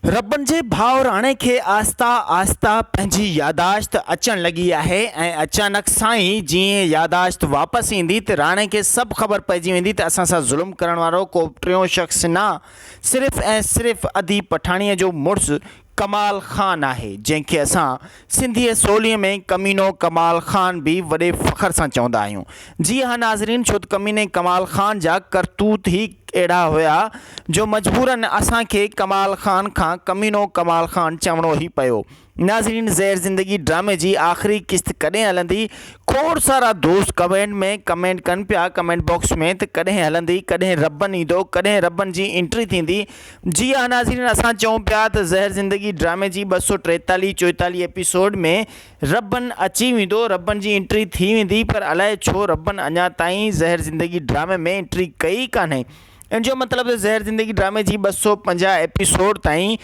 ربن جي ڀائوراڻي کي آهسته آهسته پنهنجي ياداشت اچڻ لڳي آهي ۽ اچانڪ سان ئي جيئن ياداشت واپس ايندي ته راڻي کي سڀ خبر پئجي ويندي ته اسان سان ظلم ڪرڻ وارو ڪو ٽيون شخص نه صرف ۽ صرف ادي پٺاڻيء جو مڙس ڪمال خان آهي جنهن کي اسان سنڌي سولي ۾ ڪمينو ڪمال خان به وڏي فخر سان چوندا آهيون. جي ها ناظرين ڇوته ڪميني ڪمال خان جا ڪرتوت هي اهڙا هيا جو مجبورا اسان کي ڪمال خان کان ڪمينو ڪمال خان چوڻو هي پيو. ناظرين زهر زندگي ڊرامي جي آخري قسط ڪڏهن هلندي کوڙ سارا دوست ڪمينٽ ۾ ڪمينٽ ڪن پيا ڪمينٽ باڪس ۾ ته ڪڏهن هلندي ڪڏهن ربن ايندو ڪڏهن ربن جي انٽري ٿيندي جي ها ناظرين اسان چئون پيا ته زهر زندگي ڊرامي جي ٻه سؤ ٽيتاليهه چوئيتاليهه ايپيسوڊ ۾ ربن اچي ويندو ربن جي انٽري ٿي ويندي پر الائي ڇو ربن اڃا تائين زهر زندگي ڊرامي ۾ انٽري ڪئي ئي ڪانهي ان جو مطلب ته زهر زندگي ڊرامي جي ٻه سؤ پنجاهه ايپيسوڊ تائين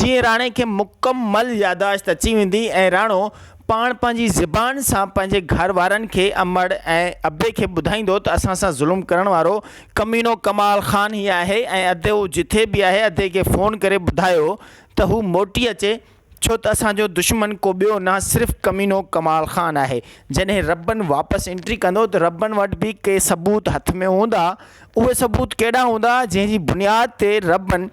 جيئن راڻي کي مڪمل ياداشت اچي ويندي ۽ راڻو پاڻ پنهنجي زبان سان پنهنجي گهر وارن کي امڙ ۽ ابي کي ٻڌائيندو ته اسان سان ظلم ڪرڻ وارو ڪمينو ڪمال خان هي آهي ۽ ادي هو جٿي به آهي ادي کي فون ڪري ٻڌايو ته هو موٽي اچي ڇو ته اسان جو دشمن ڪو ٻيو نه صرف ڪمينو ڪمال خان آهي جڏهن ربن واپس انٽري ڪندو ته ربن وٽ به ڪي ثبوت هٿ ۾ هوندا اهي ثبوت ڪهڙا هوندا جنهن جي بنياد تي ربن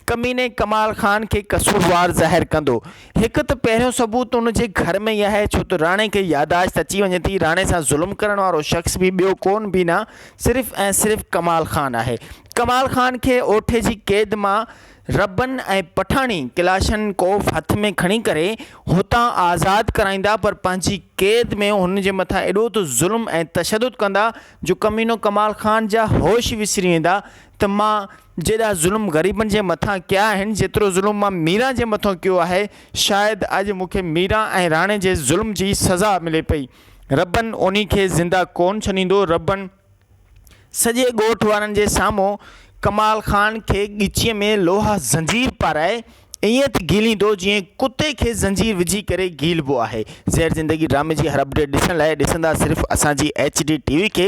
ڪميني ڪمال خان کي قصوروار ظاهر ڪندو. هڪ ته پهريون ثبوت ان جي گهر ۾ ئي آهي ڇو ته راڻي کي ياداشت اچي وڃي ٿي. راڻي سان ظلم ڪرڻ وارو شخص به ٻيو ڪون بينا صرف ۽ صرف ڪمال خان آهي. ڪمال خان کي اوٺي جي قيد مان ربن ۽ پٺاڻي ڪلاشن ڪوف هٿ ۾ کڻي ڪري هتان آزاد ڪرائيندا پر پنهنجي قيد ۾ هن جي مٿان ايڏو ته ظلم ۽ تشدد ڪندا جو ڪمينو ڪمال خان جا هوش وسري ويندا ته مان جيڏا ظلم غريبن جي مٿان ڪيا آهن جيترو ظلم مان ميران جي مٿان ڪيو آهي شايد اڄ مون کي ميران ۽ راڻي جي ظلم جي سزا ملي پئي ربن انهي کي زنده ڪون ڇڏيندو ربن سڄي ڳوٺ وارن جي سامهون ڪمال خان کي ڳچيء ۾ لوهه زنجير پارائي ائين ٿي گهيليندو جئين ڪتي کي زنجير وجهي ڪري گهيلبو آهي زهر زندگي ڊرامي جي هر اپڊيٽ ڏسڻ لاء ڏسندا صرف اسان جي ايڇ ڊي ٽي وي کي.